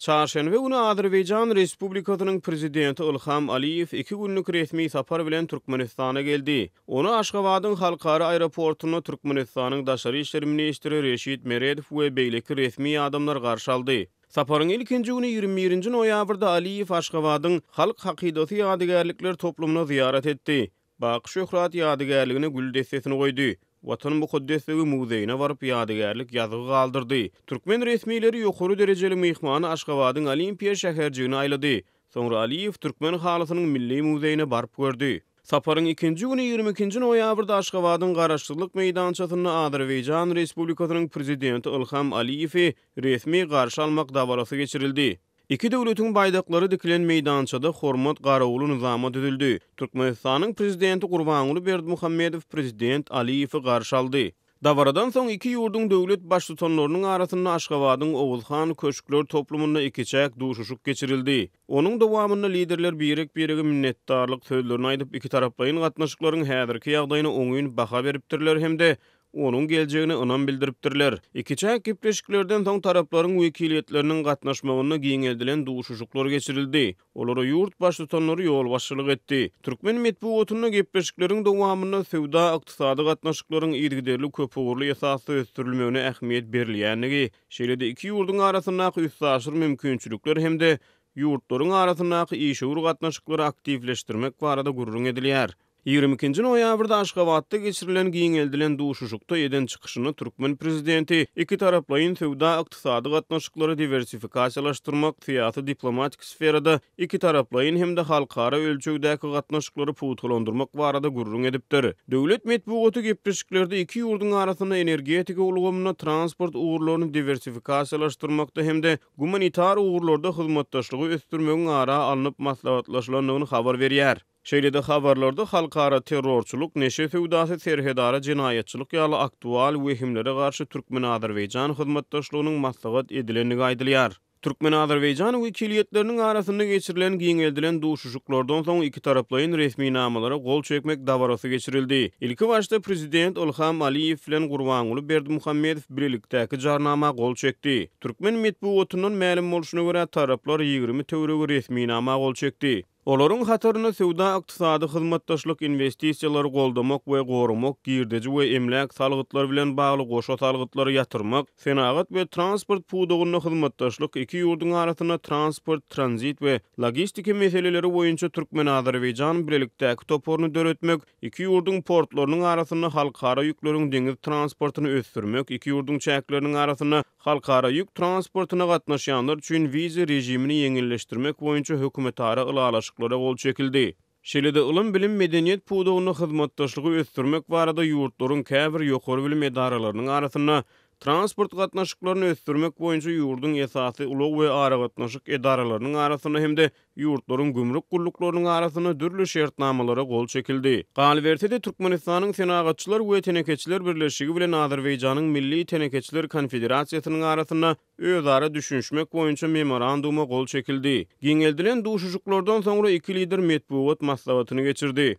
Çarşenbe güni Azerbaýjan Respublikasynyň Prezidenti Ilham Aliýew iki günlük resmi sapar bilen Türkmenistana geldi. Ony Aşgabadyň Halkara aeroportunda Türkmenistanyň Daşary işler ministri Reşid Meredow we beýleki resmi adamlar garşy aldy. Saparyň ilkinji güni ýigrimi birinji noýabrda Aliýew Aşgabadyň Halk hakydasy ýadygärlikler toplumyna zyýarat etdi. Baky Şöhrat ýadygärligine gül dessesini goýdy. Watan mukaddesligi muzeýine baryp ýadygärlik ýazgy galdyrdy. Türkmen resmileri ýokary derejeli myhmany Aşgabadyň Olimpiýa şäherjigine aýlady. Soňra Aliýew türkmen halysynyň milli muzeýine baryp gördi. Saparyň ikinji güni ýigrimi ikinji noýabrda Aşgabadyň Garaşsyzlyk meýdançasynda Azerbaýjan Respublikasynyň Prezidenti Ylham Aliýewi resmi garşy almak dabarasy geçirildi. Iki döwletiň baýdaklary dikilen meýdançada hormat garawuly nyzama düzüldi. Türkmenistanyň Prezidenti Gurbanguly Berdimuhamedow Prezident Aliýewi garşy aldy. Dabaradan soň iki ýurduň döwlet Baştutanlarynyň arasynda Aşgabadyň Oguz han köşkler toplumynda ikiçäk duşuşyk geçirildi. Onuň dowamynda liderler birek-birege minnetdarlyk sözlerini aýdyp, ikitaraplaýyn gatnaşyklaryň häzirki ýagdaýyna oňyn baha beripdirler hem-de onuň geljegine ynam bildiripdirler. Ikiçäk gepleşiklerden soň taraplaryň wekiliýetleriniň gatnaşmagynda giňeldilen duşuşyklar geçirildi, olara ýurt Baştutanlary ýolbaşçylyk etdi. Türkmen metbugatynda gepleşikleriň dowamynda söwda-ykdysady gatnaşyklaryň yzygiderli köpugurly esasda ösdürilmegine ähmiýet berilýändigi, şeýle-de iki ýurduň arasyndaky üstaşyr mümkinçilikler hem-de ýurtlaryň arasyndaky işewür gatnaşyklary aktiwleşdirmek barada gürrüň edilýär. Ýigrimi ikinji noýabrda Aşgabatda geçirilen giňeldilen duşuşykda eden çykyşynda türkmen prezidenti ikitaraplaýyn söwda-ykdysady gatnaşyklary diwersifikasiýalaşdyrmak, syýasy-diplomatik sferada ikitaraplaýyn hem-de halkara ölçegdäki gatnaşyklary pugtalandyrmak barada gürrüň edipdir. Döwlet metbugaty gepleşiklerde iki ýurduň arasynda energetika ulgamynda, transport ugurlaryny diwersifikasiýalaşdyrmakda hem-de gumanitar ugurlarda hyzmatdaşlygy ösdürmegiň ara alnyp maslahatlaşylandygyny habar berýär. Şeýle-de habarlarda halkara terrorçylyk, neşe söwdasy, serhetara jenaýatçylyk ýaly aktual wehimlere garşy türkmen-azerbaýjan hyzmatdaşlygynyň maslahat edilendigi aýdylýar. Türkmen-azerbaýjan wekiliýetleriniň arasynda geçirilen giňeldilen duşuşyklardan soň ikitaraplaýyn resminamalara gol çekmek dabarasy geçirildi. Ilki başda prezident Ylham Aliýew bilen Gurbanguly Berdimuhamedow bilelikdäki jarnama gol çekdi. Türkmen metbugatyndan mälim bolşuna görä, taraplar ýigrimi töweregi resminama gol çekdi. Olaryň hatarynda söwda-ykdysady hyzmatdaşlyk, inwestisiýalary goldamak we goramak, girdeji we emläk salgytlary bilen bagly goşa salgytlary ýatyrmak, senagat we transport pudagynda hyzmatdaşlyk, iki ýurduň arasynda transport, tranzit we logistika meseleleri boýunça türkmen-azerbaýjan bilelikdäki toparyny döretmek, iki ýurduň portlarynyň arasynda halkara ýükleriň deňiz transportyny ösdürmek, iki ýurduň çäkleriniň arasynda Halkara ýük transportyna gatnaşýanlar üçin wiza režimini ýeňilleşdirmek boýunça hökümetara ylalaşyklara gol çekildi. Şeýle-de ylym-bilim, medeniýet pudagynda hyzmatdaşlygy ösdürmek barada ýurtlaryň käbir ýokary bilim edaralarynyň arasynda transport gatnaşyklaryny ösdürmek boýunça ýurduň esasy ulag we aragatnaşyk edaralarynyň arasynda hem-de ýurtlaryň gümrük gulluklarynyň arasynda dürli şertnamalara gol çekildi. Galyberse-de, Türkmenistanyň Senagatçylar we telekeçiler birleşigi bilen Azerbaýjanyň Milli telekeçiler konfederasiýasynyň arasynda özara düşünişmek boýunça Memoranduma gol çekildi. Giňeldilen duşuşyklardan soňra iki lider metbugat maslahatyny geçirdi.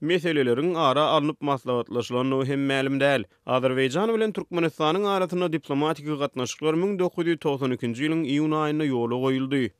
meseleleriň ara alnyp maslahatlaşylandygy hem mälim däl. Azerbaýjan bilen Türkmenistanyň arasynda diplomatiki gatnaşyklar müň dokuz ýüz togsan ikinji ýylyň iýun aýynda ýola goýuldy.